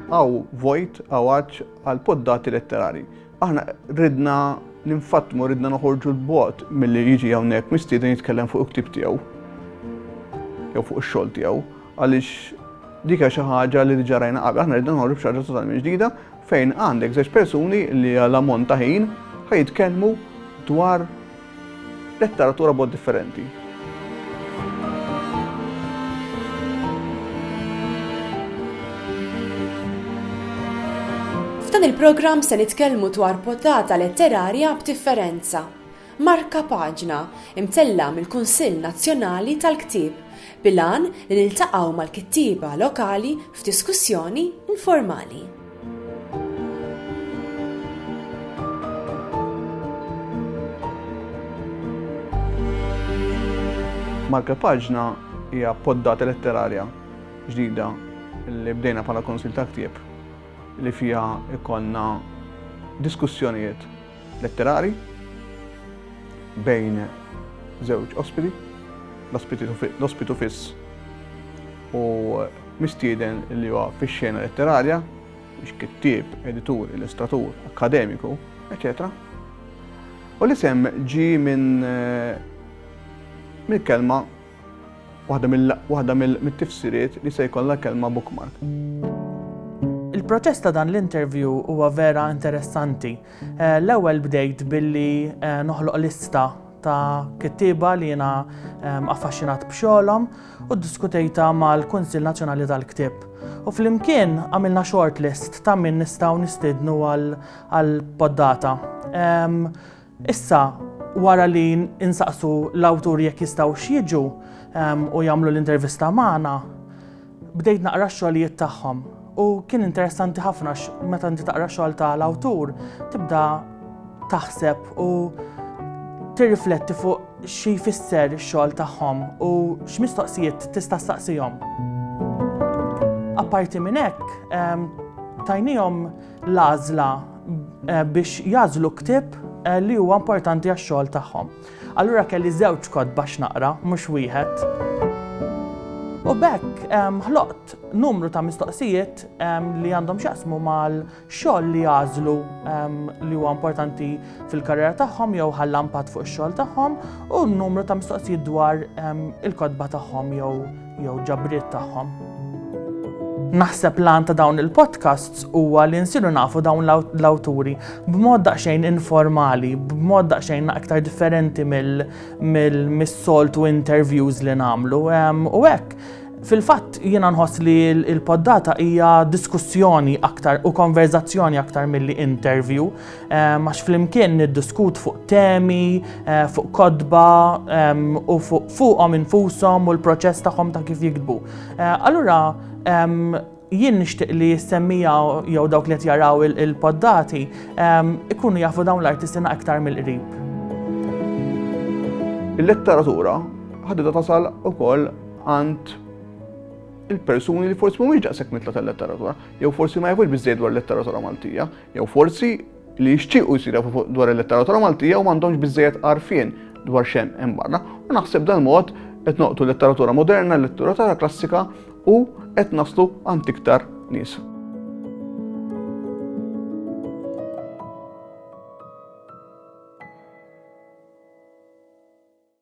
Hawn vojt, hawn għatx għal poddati letterari. Aħna ridna ninfatmu, ridna noħorġu l-bot mill-li jiġi għawnek mistieden jitkellem fuq uktib tiegħu. Jew fuq ix-xogħol tiegħu. Għaliex dika xi ħaġa li diġà rajna qabel, aħna ridna noħorġu b'xi ħaġa totalment ġdida, fejn għandek żewġ persuni li għal ammont ta' ħin ħa jitkellmu dwar letteratura bod differenti. F'dan il-programm se nitkellmu dwar potata letterarja b'differenza. Markapaġna, imtella' mill-Kunsill Nazzjonali tal-Ktieb, bil-għan li niltaqgħu mal-kittieba lokali f'diskussjoni informali. Markapaġna hija poddata letterarja ġdida li bdejna bħala Kunsill tal-Ktieb li fiha jkollna diskussjonijiet, letterari bejn żewġ ospiti, l-ospitu fiss u mistieden li huwa fix-xena letterarja, biex kittieb, editur, illustratur, akkademiku, eċċetera U l-isem ġie minn mill-kelma Waħda mill-tifsiriet li se jkollha kelma bookmark. Il-proċess ta' dan l-interview huwa vera interessanti. Eh, l-ewwel bdejt billi eh, noħloq lista ta' kittiba li jiena ehm, affaxxinat b'xogħolhom u ddiskutejta mal-Kunsill Nazzjonali tal-Ktieb. U flimkien għamilna short list ta' min nistgħu nistidnu għal poddata. Ehm, Issa, wara li insaqsu l-awturi jekk jistgħux jiġu u jagħmlu l-intervista magħna, bdejt naqra x-xogħlijiet tagħhom. U kien interessanti ħafna meta inti taqra xogħol ta' l-awtur, tibda taħseb u tirrifletti fuq xi jfisser ix-xogħol tagħhom u x'mistoqsijiet tista' staqsihom. Apparti minn hekk, tajnihom l-għażla eh, biex jazlu ktib eh, li huwa importanti għax-xogħol tagħhom. Allura kelli żewġ kod bax naqra, mhux wieħed. U bekk ehm, ħloqt numru ta' mistoqsijiet ehm, li għandhom xaqsmu mal-xogħol li jazlu ehm, li huwa importanti fil-karriera tagħhom jew ħallampat fuq ix-xogħol tagħhom u numru ta' mistoqsijiet dwar il-kodba tagħhom jew jew ġabriet tagħhom. Naħseb lan ta' dawn il-podcasts huwa li nsiru nafu dawn l-awturi b'mod daqsxejn informali, b'mod daqsxejn aktar differenti mill-soltu interviews li nagħmlu. U hekk, fil-fatt jiena nħoss li l-poddata hija diskussjoni aktar u konverzazzjoni aktar milli interview. Eh, max flimkien niddiskut fuq temi, eh, fuq kodba u fuqhom infushom u l-proċess tagħhom ta' kif jiktbu. Eh, allura jien nixtieq li jissemmija jew dawk li qed jaraw il-poddati ikunu jafu dawn l-artistina aktar mill-qrib. Il-letteratura ħadida tasal ukoll għand il-persuni li forsi mhumiex daqshekk mitla tal-letteratura, jew forsi ma jafux biżżejjed dwar letteratura Maltija, Jew forsi li jixtiequ jsir jafu fuq dwar il-letteratura Maltija u m'għandhomx biżejjed għarfien dwar xem hemm barra. U naħseb dan mod qed noqtu l-letteratura moderna, l-letteratura klassika u qed naslu għand iktar nies.